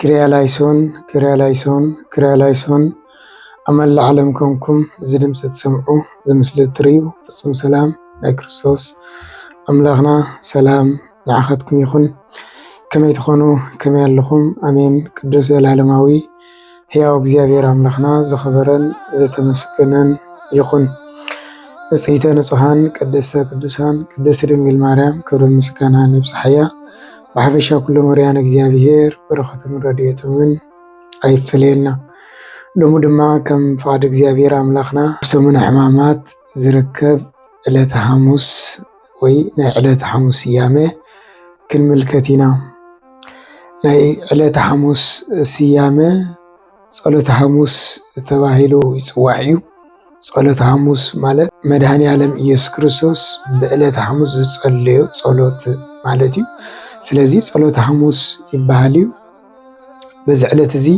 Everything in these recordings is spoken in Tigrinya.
ክሪያላይሶን ክሪያላይሶን ክሪያላይሶን ኣብ መላእ ዓለም ኮንኩም እዚ ድምፂ ትሰምዑ እዚ ምስሊ እትሪኡ ፍፁም ሰላም ናይ ክርስቶስ ኣምላኽና ሰላም ንዓኻትኩም ይኹን። ከመይ ትኾኑ ከመይ ኣለኹም? ኣሜን ቅዱስ ዘላለማዊ ሕያው እግዚኣብሔር ኣምላኽና ዝኸበረን ዘተመስገነን ይኹን። ንጽሕተ ንጹሓን ቅድስተ ቅዱሳን ቅድስት ድንግል ማርያም ክብሪ ምስጋና ንብጽሓያ ብሓፈሻ ኩሎም ርያን እግዚኣብሄር በረኸቶምን ረድኤቶምን ኣይፈለየና። ሎሚ ድማ ከም ፍቓድ እግዚኣብሄር ኣምላኽና ብሰሙነ ሕማማት ዝርከብ ዕለተ ሓሙስ ወይ ናይ ዕለተ ሓሙስ ስያመ ክንምልከት ኢና። ናይ ዕለተ ሓሙስ ስያመ ጸሎተ ሓሙስ ተባሂሉ ይጽዋዕ እዩ። ጸሎተ ሓሙስ ማለት መድሃኒኣለም እየሱስ ክርስቶስ ብዕለተ ሓሙስ ዝጸለዮ ጸሎት ማለት እዩ። ስለዚ ጸሎተ ሓሙስ ይብሃል እዩ። በዚ ዕለት እዚ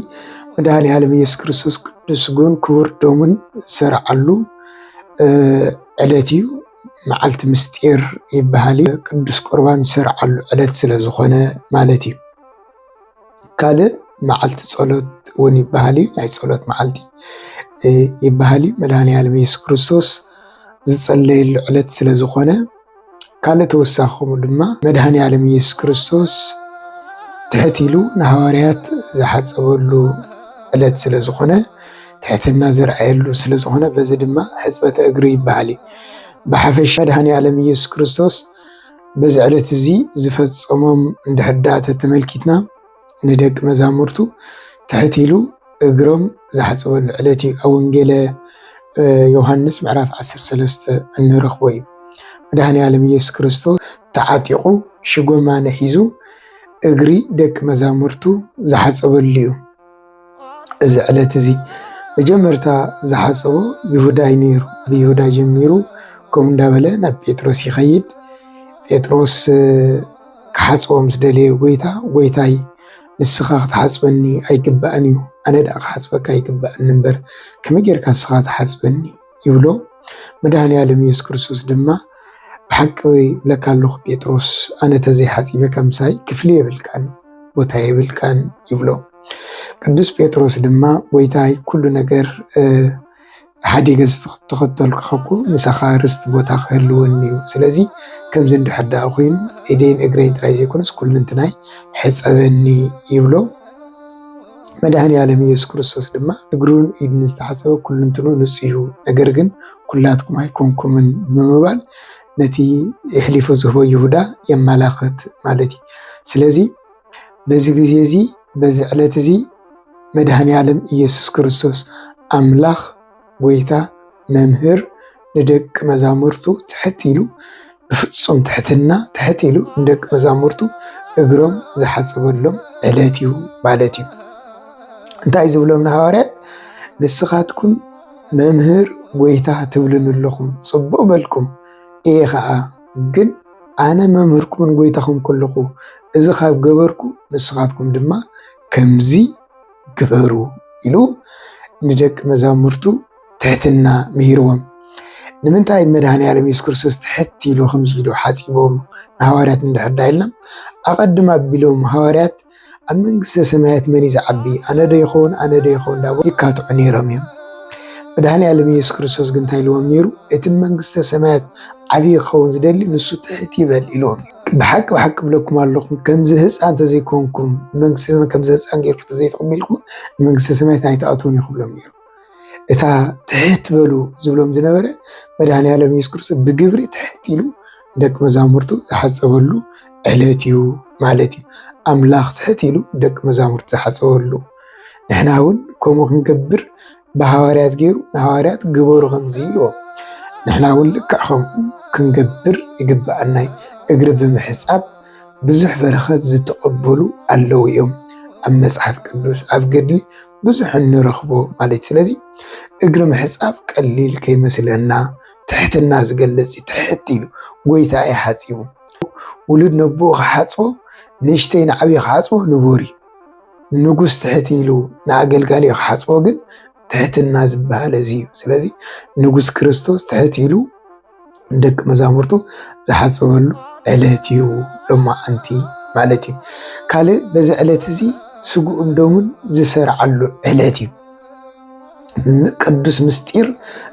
መድሃኒኣለም እየሱስ ክርስቶስ ቅዱስ ስግኡን ክቡር ደሙን ዝሰርዓሉ ዕለት እዩ። መዓልቲ ምስጢር ይብሃል እዩ። ቅዱስ ቁርባን ዝሰርዓሉ ዕለት ስለ ዝኾነ ማለት እዩ። ካልእ መዓልቲ ፀሎት እውን ይበሃል እዩ። ናይ ፀሎት መዓልቲ ይበሃል እዩ። መድሃኒኣለም እየሱስ ክርስቶስ ዝፀለየሉ ዕለት ስለ ዝኾነ ካልእ ተወሳኺ ከምኡ ድማ መድሃኒኣለም እየሱስ ክርስቶስ ትሕት ኢሉ ንሃዋርያት ዝሓፀበሉ ዕለት ስለ ዝኾነ ትሕትና ዘርኣየሉ ስለ ዝኾነ በዚ ድማ ሕፅበተ እግሪ ይበሃል እዩ። ብሓፈሻ መድሃኒኣለም እየሱስ ክርስቶስ በዚ ዕለት እዚ ዝፈጸሞም እንድሕር ደኣ ተተመልኪትና ንደቂ መዛሙርቱ ትሕት ኢሉ እግሮም ዝሓጸበሉ ዕለት እዩ። ኣብ ወንጌለ ዮሃንስ ምዕራፍ 13 እንረኽቦ እዩ። መድኃኔ ዓለም ኢየሱስ ክርስቶስ ተዓጢቑ ሽጎማነ ሒዙ እግሪ ደቂ መዛሙርቱ ዝሓጸበሉ እዩ። እዚ ዕለት እዚ መጀመርታ ዝሓሰቦ ይሁዳ እዩ ነይሩ። ብይሁዳ ጀሚሩ ከምኡ እንዳበለ ናብ ጴጥሮስ ይኸይድ። ጴጥሮስ ክሓጽቦ ምስ ደለየ ጎይታ ጎይታይ ንስኻ ክትሓጽበኒ ኣይግባእን እዩ ኣነ ደኣ ክሓጽበካ ይግበኣኒ እምበር ከመይ ጌርካ ንስኻ ትሓጽበኒ? ይብሎ። መድኃኔዓለም ኢየሱስ ክርስቶስ ድማ ብሓቂ እብለካ ኣለኹ ጴጥሮስ ኣነ ተዘይሓጺበካ ምሳይ ክፍሊ የብልካን ቦታ የብልካን ይብሎ። ቅዱስ ጴጥሮስ ድማ ጎይታይ ኩሉ ነገር ሓዲገ ዝተኸተልኩ ከኩ ምሳኻ ርስቲ ቦታ ክህልወኒ እዩ። ስለዚ ከምዚ እንድሕር ደኣ ኮይኑ ኢደይን እግረይን ጥራይ ዘይኮነስ ኩልንትናይ ሕፀበኒ ይብሎ። መድኃኔዓለም ኢየሱስ ክርስቶስ ድማ እግሩን ኢዱን ዝተሓጸበ ኩልንትኑ ንጹሕ እዩ፣ ነገር ግን ኩላትኩም ኣይኮንኩምን ብምባል ነቲ የሕሊፉ ዝህቦ ይሁዳ የመላኽት ማለት እዩ። ስለዚ በዚ ጊዜ እዚ በዚ ዕለት እዚ መድኃኔዓለም ኢየሱስ ክርስቶስ ኣምላኽ ጐይታ መምህር ንደቂ መዛሙርቱ ትሕት ኢሉ ብፍጹም ትሕትና ትሕት ኢሉ ንደቂ መዛሙርቱ እግሮም ዝሓጸበሎም ዕለት እዩ ማለት እዩ። እንታይ ዝብሎም ንሃዋርያት ንስኻትኩም መምህር ጎይታ ትብሉን ኣለኹም ጽቡቕ በልኩም እየ ኸዓ ግን ኣነ መምህርኩምን ጎይታኹም ከለኹ እዚ ካብ ገበርኩ ንስኻትኩም ድማ ከምዚ ግበሩ ኢሉ ንደቂ መዛሙርቱ ትሕትና ምሂርዎም። ንምንታይ መድሃኒ ዓለም የሱስ ክርስቶስ ትሕት ኢሉ ከምዚ ኢሉ ሓጺቦም ንሃዋርያት እንድሕር ዳ ኢልና ኣቐድም ኣቢሎም ሃዋርያት ኣብ መንግስተ ሰማያት መን እዩ ዝዓቢ ኣነ ዶ ይኸውን ኣነ ዶ ይኸውን ዳቦ ይካትዑ ነይሮም እዮም። መድሃኒ ዓለም የሱስ ክርስቶስ ግን እንታይ ኢልዎም ነይሩ? እቲ መንግስተ ሰማያት ዓብዪ ክኸውን ዝደሊ ንሱ ትሕት ይበል ኢልዎም ነይሩ። ብሓቂ ብሓቂ ብለኩም ኣለኹ ከምዚ ህፃን እንተዘይኮንኩም መንግስቲ ሰማይ ከምዚ ህፃን ጌርኩ ተዘይተቐቢልኩም መንግስቲ ሰማያት ኣይትኣትውን እዩ ክብሎም ነይሩ። እታ ትሕት በሉ ዝብሎም ዝነበረ መድኃኔዓለም ኢየሱስ ክርስቶስ ብግብሪ ትሕት ኢሉ ደቂ መዛሙርቱ ዝሓፀበሉ ዕለት እዩ ማለት እዩ። ኣምላኽ ትሕት ኢሉ ደቂ መዛሙርቱ ዝሓፀበሉ ንሕና እውን ከምኡ ክንገብር ብሃዋርያት ገይሩ ንሃዋርያት ግበሩ ከምዚ ኢልዎም ንሕና እውን ልክዕ ከምኡ ክንገብር ይግብኣና እዩ። እግሪ ብምሕፃብ ብዙሕ በረኸት ዝተቐበሉ ኣለዉ እዮም። ኣብ መፅሓፍ ቅዱስ ኣብ ገድሊ ብዙሕ እንረኽቦ ማለት እዩ። ስለዚ እግሪ ምሕፃብ ቀሊል ከይመስለና ትሕትና ዝገልፅ እዩ። ትሕት ኢሉ ጎይታ እዩ ሓፂቡ ውሉድ ነቦኡ ክሓፅቦ ንእሽተይ ንዓብዪ ክሓፅቦ ንቡር እዩ። ንጉስ ትሕት ኢሉ ንኣገልጋሊኡ ክሓጽቦ ግን ትሕትና ዝበሃል እዚ እዩ። ስለዚ ንጉስ ክርስቶስ ትሕት ኢሉ ንደቂ መዛሙርቱ ዝሓጽበሉ ዕለት እዩ ሎማዓንቲ ማለት እዩ። ካልእ በዚ ዕለት እዚ ስግኡን ደሙን ዝሰርዓሉ ዕለት እዩ። ቅዱስ ምስጢር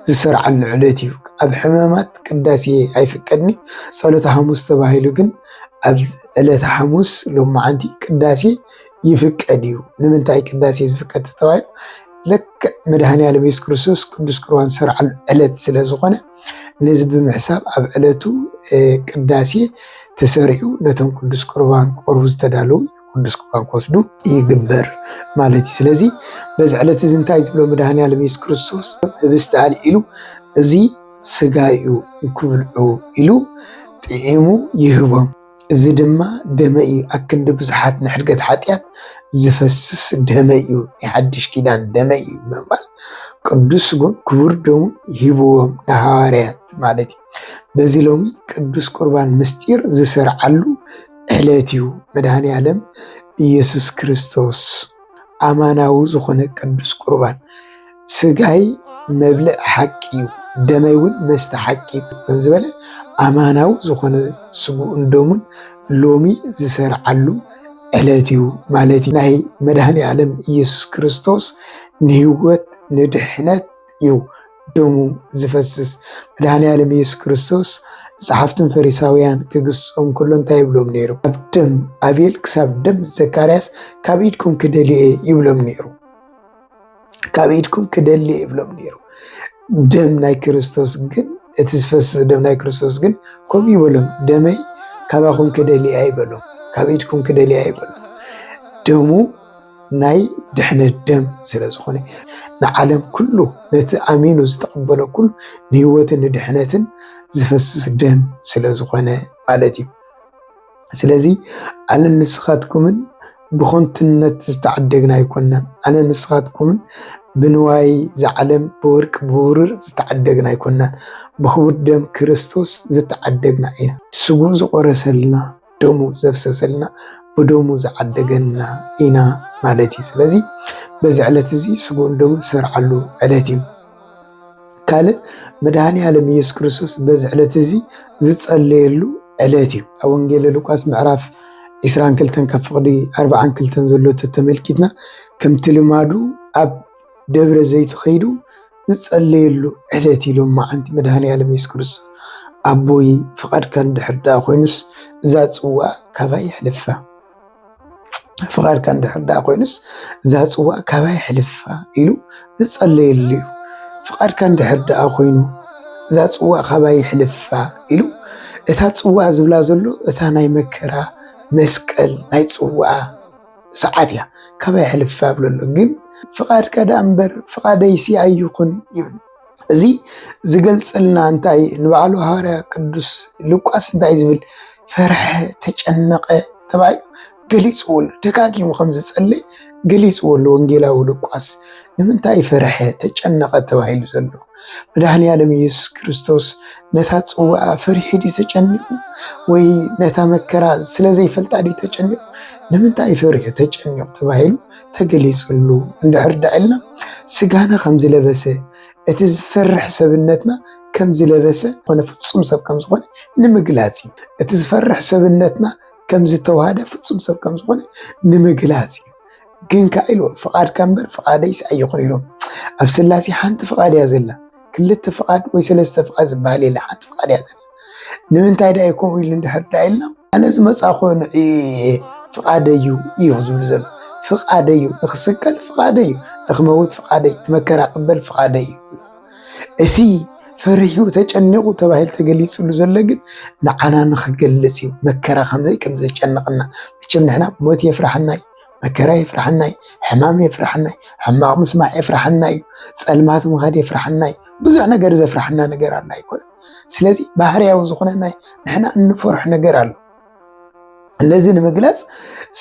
ዝሰርዓሉ ዕለት እዩ። ኣብ ሕማማት ቅዳሴ ኣይፍቀድን እዩ። ጸሎተ ሓሙስ ተባሂሉ ግን ኣብ ዕለተ ሓሙስ ሎማዓንቲ ቅዳሴ ይፍቀድ እዩ። ንምንታይ ቅዳሴ ዝፍቀድ ተባሂሉ ልክዕ መድኃኔዓለም ኢየሱስ ክርስቶስ ቅዱስ ቁርባን ዝሰርዓሉ ዕለት ስለ ዝኾነ ነዚ ብምሕሳብ ኣብ ዕለቱ ቅዳሴ ተሰሪዑ ነቶም ቅዱስ ቁርባን ክቐርቡ ዝተዳለዉ ኩሉ ስንኳ ክወስዱ ይግበር ማለት እዩ። ስለዚ በዚ ዕለት እዚ እንታይ ዝብሎ መድሃኒኣለም የሱስ ክርስቶስ ህብስቲ ኣልዒሉ እዚ ስጋይ እዩ ንክብልዑ ኢሉ ጥዒሙ ይህቦም። እዚ ድማ ደመ እዩ ኣክንዲ ብዙሓት ንሕድገት ሓጢኣት ዝፈስስ ደመ እዩ ናይ ሓድሽ ኪዳን ደመ እዩ ብምባል ቅዱስ ስጉን ክቡር ደሙ ሂብዎም ንሃዋርያት ማለት እዩ። በዚ ሎሚ ቅዱስ ቁርባን ምስጢር ዝስርዓሉ ዕለት እዩ መድኃኔዓለም ኢየሱስ ክርስቶስ ኣማናዊ ዝኾነ ቅዱስ ቁርባን ሥጋይ መብልዕ ሓቂ እዩ ደመይውን መስተ ሓቂ እዩ ዝበለ ኣማናዊ ዝኾነ ሥግኡን ደሙን ሎሚ ዝሠርዓሉ ዕለት እዩ ማለት ናይ መድኃኔዓለም ኢየሱስ ክርስቶስ ንሕይወት ንድኅነት እዩ ደሙ ዝፈስስ መድሃኒ ዓለም ኢየሱስ ክርስቶስ ጸሓፍትን ፈሪሳውያን ክግስጾም ከሎ እንታይ ይብሎም ነይሩ? ካብ ደም ኣቤል ክሳብ ደም ዘካርያስ ካብ ኢድኩም ክደልየ ይብሎም ነይሩ። ካብ ኢድኩም ክደልየ ይብሎም ነይሩ። ደም ናይ ክርስቶስ ግን እቲ ዝፈስስ ደም ናይ ክርስቶስ ግን ከምኡ ይበሎም፣ ደመይ ካባኹም ክደልየ ኣይበሎም፣ ካብ ኢድኩም ክደልየ ኣይበሎም ደሙ ናይ ድሕነት ደም ስለ ዝኾነ ንዓለም ኩሉ ነቲ ኣሚኑ ዝተቐበሎ ኩሉ ንህይወትን ንድሕነትን ዝፈስስ ደም ስለ ዝኾነ ማለት እዩ። ስለዚ ኣነ ንስኻትኩምን ብኾንትነት ዝተዓደግና ኣይኮናን። ኣነ ንስኻትኩምን ብንዋይ ዝዓለም ብወርቂ ብብሩር ዝተዓደግና ኣይኮናን። ብኽቡር ደም ክርስቶስ ዝተዓደግና ኢና። ስግኡ ዝቖረሰልና ደሙ ዘፍሰሰልና ብደሙ ዝዓደገና ኢና ማለት እዩ። ስለዚ በዚ ዕለት እዚ ስጉን ደሙ ዝሰርዓሉ ዕለት እዩ። ካልእ መድሃኒ ዓለም ኢየሱስ ክርስቶስ በዚ ዕለት እዚ ዝጸለየሉ ዕለት እዩ። ኣብ ወንጌል ሉቃስ ምዕራፍ 22 ካብ ፍቕዲ 42 ዘሎ ተመልኪትና ከምቲ ልማዱ ኣብ ደብረ ዘይት ኸይዱ ዝጸለየሉ ዕለት እዩ ሎማዓንቲ መድሃኔኣለም የሱስ ክርስቶስ ኣቦይ ፍቃድካ እንድሕር ደኣ ኮይኑስ እዛ ጽዋእ ካባይ ይሕልፋ ፍቃድካ እንድሕር ደኣ ኮይኑስ እዛ ጽዋእ ካባይ ይሕልፋ ኢሉ ዝጸለየሉ እዩ ፍቃድካ እንድሕር ደኣ ኮይኑ እዛ ጽዋእ ካባይ ይሕልፋ ኢሉ እታ ጽዋእ ዝብላ ዘሎ እታ ናይ መከራ መስቀል ናይ ጽዋኣ ሰዓት እያ ካባይ ሕልፍ ኣብለሎ ግን ፍቓድካ ደኣ እምበር ፍቓደይሲ ኣይኹን ይብል እዚ ዝገልጸልና እንታይ ንበዓሉ ሃዋርያ ቅዱስ ሉቃስ እንታይ ዝብል ፈርሐ ተጨነቐ ተባሂሉ ገሊፅዎሉ ደጋጊሙ ከም ዝጸለይ ገሊፅዎሉ ወንጌላዊ ሉቃስ ንምንታይ ፈርሐ ተጨነቐ ተባሂሉ ዘሎ መድኃኔዓለም ኢየሱስ ክርስቶስ ነታ ጽዋኣ ፈሪሑ ድዩ ተጨኒቁ? ወይ ነታ መከራ ስለ ዘይፈልጣ ድዩ ተጨኒቁ? ንምንታይ ፈሪሑ ተጨኒቁ ተባሂሉ ተገሊጽሉ እንድሕር ዳኣ ኢልና ስጋና ከም ዝለበሰ እቲ ዝፈርሕ ሰብነትና ከም ዝለበሰ ኮነ ፍጹም ሰብ ከም ዝኾነ ንምግላጽ እዩ። እቲ ዝፈርሕ ሰብነትና ከም ዝተዋህደ ፍጹም ሰብ ከም ዝኾነ ንምግላጽ እዩ። ግን ከዓ ኢልዎ ፍቃድካ እምበር ፍቃደይስ ኣይኹን ኢልዎ ኣብ ስላሴ ሓንቲ ፍቃድ እያ ዘላ ክልተ ፍቃድ ወይ ሰለስተ ፍቃድ ዝበሃል የለ ሓንቲ ፍቃድ እያ ዘላ ንምንታይ ዳ ከምኡ ኢሉ እንድሕር ዳ ኢልና ኣነ ዝመፃኹ ንዒ ፍቃደ እዩ እዩ ዝብሉ ዘሎ ፍቃደ እዩ ንክስቀል ፍቃደ እዩ ንክመውት ፍቃደ እዩ መከራ ቅበል ፍቃደ እዩ እቲ ፈሪሑ ተጨኒቑ ተባሂሉ ተገሊፅሉ ዘሎ ግን ንዓና ንክገልፅ እዩ መከራ ከምዘይ ከምዘጨንቕና መቸም ንሕና ሞት የፍራሕና እዩ መከራ የፍርሓና እዩ፣ ሕማም የፍርሓና እዩ፣ ሕማቕ ምስማዕ የፍርሓና እዩ፣ ጸልማት ምኻድ የፍርሓና እዩ። ብዙሕ ነገር ዘፍርሓና ነገር ኣላ ኣይኮነ። ስለዚ ባህርያዊ ዝኾነ ናይ ንሕና እንፈርሑ ነገር ኣሎ። ነዚ ንምግላጽ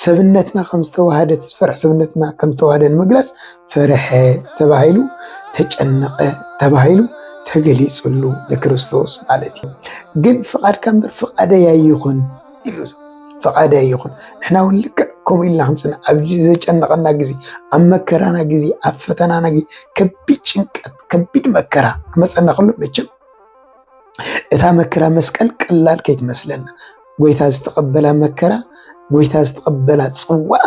ሰብነትና ከም ዝተዋህደት ዝፈርሕ ሰብነትና ከም ዝተዋህደ ንምግላጽ ፈርሐ ተባሂሉ ተጨነቐ ተባሂሉ ተገሊጹሉ ንክርስቶስ ማለት እዩ። ግን ፍቓድካ እምበር ፍቓደይ ኣይኹን ይብሉ ፈቃዳይ ይኹን ንሕና እውን ልክዕ ከምኡ ኢልና ክንፅናዕ ኣብዚ ዘጨነቐና ግዜ ኣብ መከራና ግዜ ኣብ ፈተናና ግዜ ከቢድ ጭንቀት ከቢድ መከራ ክመፀና ከሎ መቸም እታ መከራ መስቀል ቀላል ከይትመስለና ጎይታ ዝተቐበላ መከራ ጎይታ ዝተቐበላ ፅዋዓ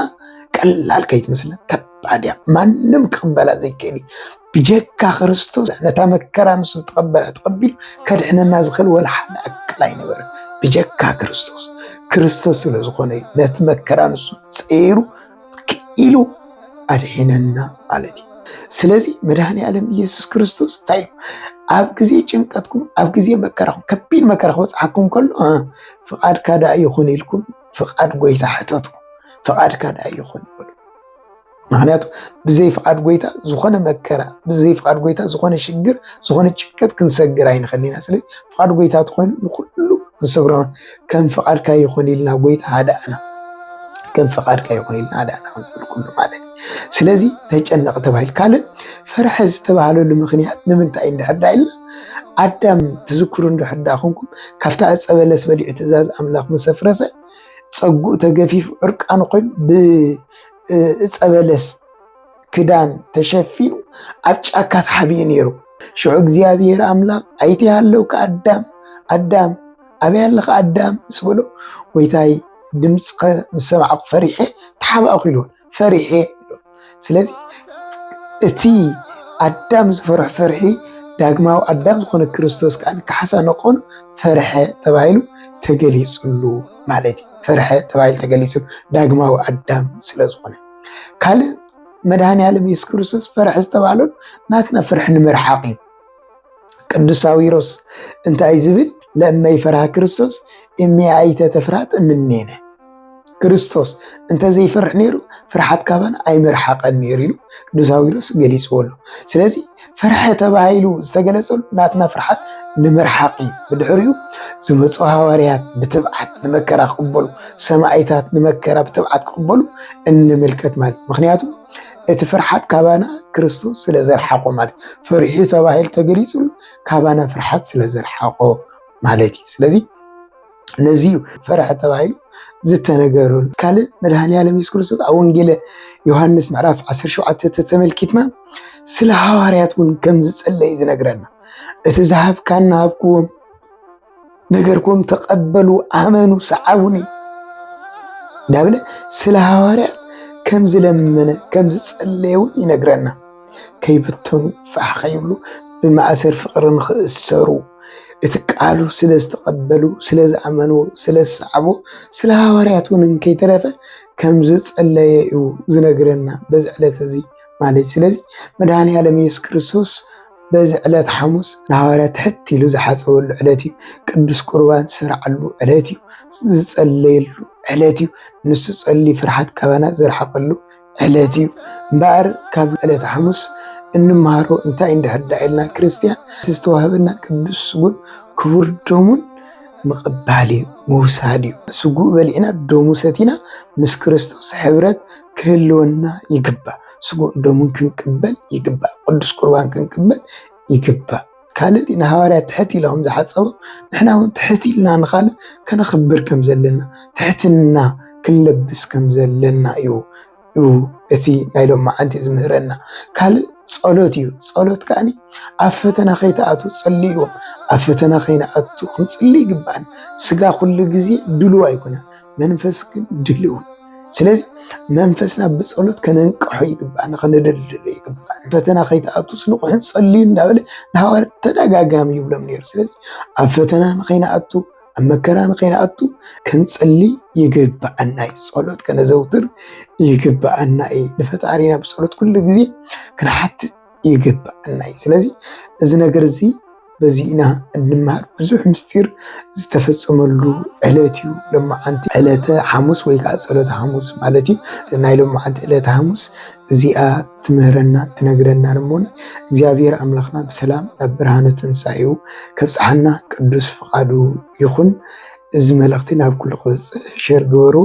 ቀላል ከይትመስለና ከባድ እያ ማንም ክቕበላ ዘይክእል እዩ ብጀካ ክርስቶስ ነታ መከራ ንሱ ዝተቐበለ ተቐቢሉ ከድሕነና ዝኽእል ወላ ሓደ ኣካል ኣይነበረ ብጀካ ክርስቶስ ክርስቶስ ስለ ዝኾነ ነቲ መከራ ንሱ ፀይሩ ክኢሉ ኣድሒነና ማለት እዩ። ስለዚ መድኃኔ ዓለም ኢየሱስ ክርስቶስ እንታይ ኢሉ ኣብ ግዜ ጭንቀትኩም ኣብ ግዜ መከራኹም ከቢድ መከራ ክበፅሓኩም ከሎ ፍቓድካ ደኣ ይኹን ኢልኩም ፍቓድ ጎይታ ሕተቱ ፍቓድካ ደኣ ይኹን በሉ። ምክንያቱ ብዘይ ፍቃድ ጎይታ ዝኾነ መከራ ብዘይ ፍቃድ ጎይታ ዝኾነ ሽግር ዝኾነ ጭቀት ክንሰግር ኣይንኸሊና ስለ ፍቃድ ጎይታ ትኾይኑ ንኩሉ ንሰግሮ ከም ፍቃድካ ይኹን ኢልና ጎይታ ሃዳእና ከም ፍቃድካ ይኹን ኢልና ሃዳእና ክንብል ኩሉ ማለት ስለዚ ተጨነቅ ተባሂል ካልእ ፈርሐ ዝተባሃለሉ ምክንያት ንምንታይ እንድሕዳ ኢልና ኣዳም ትዝክሩ እንድሕዳ ኮንኩም ካብታ ዕፀ በለስ በሊዑ ትእዛዝ ኣምላኽ ምሰፍረሰ ፀጉኡ ተገፊፉ ዕርቃኑ ኮይኑ እፀበለስ ክዳን ተሸፊኑ ኣብ ጫካ ተሓቢኡ ነይሩ። ሽዑ እግዚኣብሔር ኣምላኽ ኣይቲ ሃለውካ ኣዳም ኣዳም ኣበይ ኣለኻ ኣዳም ምስ በሎ ጎይታይ ድምፅኸ ምስ ሰማዕኩ ፈሪሐ ተሓባእኩ ኢሉ ፈሪሐ ኢሉ ስለዚ እቲ ኣዳም ዝፈርሖ ፍርሒ ዳግማዊ ኣዳም ዝኾነ ክርስቶስ ከዓ ካሕሳ ንኾኑ ፈርሐ ተባሂሉ ተገሊፅሉ። ማለት እዩ። ፈርሐ ተባሂሉ ተገሊፁ ዳግማዊ ኣዳም ስለዝኾነ ካልእ መድሃኒ ዓለም የሱስ ክርስቶስ ፈርሐ ዝተባህለሉ ናትና ፍርሒ ንምርሓቕ እዩ። ቅዱስ ሳዊሮስ እንታይ ዝብል ለእመ ይፈርሃ ክርስቶስ እሜ ኣይተ ተፍርሃት እምኔነ ክርስቶስ እንተዘይፈርሕ ነይሩ ፍርሓት ካባና ኣይምርሓቐን ነይሩ ኢሉ ቅዱስ ሳዊሮስ ገሊፅዎ ኣሎ ስለዚ ፍርሒ ተባሂሉ ዝተገለጸሉ ናትና ፍርሓት ንምርሓቕ እዩ። ብድሕሪኡ ዝመፁ ሃዋርያት ብትብዓት ንመከራ ክቕበሉ፣ ሰማይታት ንመከራ ብትብዓት ክቕበሉ እንምልከት ማለት ምክንያቱ እቲ ፍርሓት ካባና ክርስቶስ ስለ ዘርሓቆ ማለት ፍርሒ ተባሂሉ ተገሊፅሉ ካባና ፍርሓት ስለ ዘርሓቆ ማለት እዩ። ስለዚ ነዚ እዩ ፈረሐ ተባሂሉ ዝተነገረሉ። ካልእ መድሃኒኣለም የሱስ ክርስቶስ ኣብ ወንጌለ ዮሃንስ ምዕራፍ 17 ተተመልኪትና ስለ ሃዋርያት እውን ከም ዝጸለይ ዝነግረና እቲ ዝሃብካና ሃብክዎም ነገርኩም ተቀበሉ ኣመኑ ሰዓቡኒ ዳብለ ስለ ሃዋርያት ከም ዝለመነ ከም ዝጸለየ እውን ይነግረና። ከይብተኑ ፋሕ ከይብሉ ብማእሰር ፍቅሪ ንክእሰሩ እቲ ቃሉ ስለ ዝተቀበሉ ስለ ዝኣመንዎ ስለ ዝሰዓቡ ስለ ሃዋርያት እውን እንከይተረፈ ከም ዝጸለየ እዩ ዝነግረና በዚ ዕለት እዚ ማለት ስለዚ መድኃኔ ዓለም ኢየሱስ ክርስቶስ በዚ ዕለት ሓሙስ ንሃዋርያ ትሕት ኢሉ ዝሓፀበሉ ዕለት እዩ። ቅዱስ ቁርባን ዝሰርዓሉ ዕለት እዩ። ዝጸለየሉ ዕለት እዩ። ንሱ ጸሊ ፍርሓት ካባና ዘርሓቀሉ ዕለት እዩ እምበኣር ካብ ዕለት ሓሙስ እንመሃሮ እንታይ እንድሕር ዳ ኢልና ክርስትያን እቲ ዝተዋህበና ቅዱስ ስጉን ክቡር ደሙን ምቕባል እዩ ምውሳድ እዩ ስጉኡ በሊዕና ደሙ ሰቲና ምስ ክርስቶስ ሕብረት ክህልወና ይግባእ ስጉእ ደሙን ክንቅበል ይግባእ ቅዱስ ቁርባን ክንቅበል ይግባእ ካልእ እቲ ንሃዋርያት ትሕት ኢሎም ዝሓጸቦም ንሕና እውን ትሕት ኢልና ንኻልእ ከነኽብር ከም ዘለና ትሕትና ክንለብስ ከም ዘለና እዩ እዩ እቲ ናይ ሎም መዓንቲ ዝምህረና ካልእ ጸሎት እዩ ጸሎት ከዓ ኣብ ፈተና ከይተኣቱ ጸልዎም ኣብ ፈተና ከይንኣቱ ክንጽሊ ይግባኣን ስጋ ኩሉ ግዜ ድልው ኣይኮነን መንፈስ ግን ድልው ስለዚ መንፈስና ብፀሎት ከነንቅሖ ይግባእ ንክንደልድሎ ይግባእ ፈተና ከይትኣቱ ስንቑሕን ፀልዩ እንዳበለ ንሃዋርያት ተደጋጋሚ ይብሎም ነይሩ ስለዚ ኣብ ፈተና ንከይንኣቱ ኣብ መከራ ንከይንኣቱ ክንፅሊ ይግባኣና እዩ ፀሎት ከነዘውትር ይግባኣና እዩ ንፈጣሪና ብፀሎት ኩሉ ግዜ ክንሓትት ይግብኣና እዩ። ስለዚ እዚ ነገር እዚ በዚ ኢና እንመሃር። ብዙሕ ምስጢር ዝተፈፀመሉ ዕለት እዩ ሎማዓንቲ ዕለተ ሓሙስ ወይ ከዓ ፀሎተ ሓሙስ ማለት እዩ። ናይ ሎማዓንቲ ዕለተ ሓሙስ እዚኣ ትምህረና ትነግረና እሞን እግዚኣብሔር ኣምላኽና ብሰላም ናብ ብርሃነ ትንሳኤኡ ከብፅሓና ቅዱስ ፍቃዱ ይኹን። እዚ መልእኽቲ ናብ ኩሉ ክበፅሕ ሸር ግበሩ።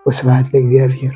ወስብሃት ለእግዚኣብሔር።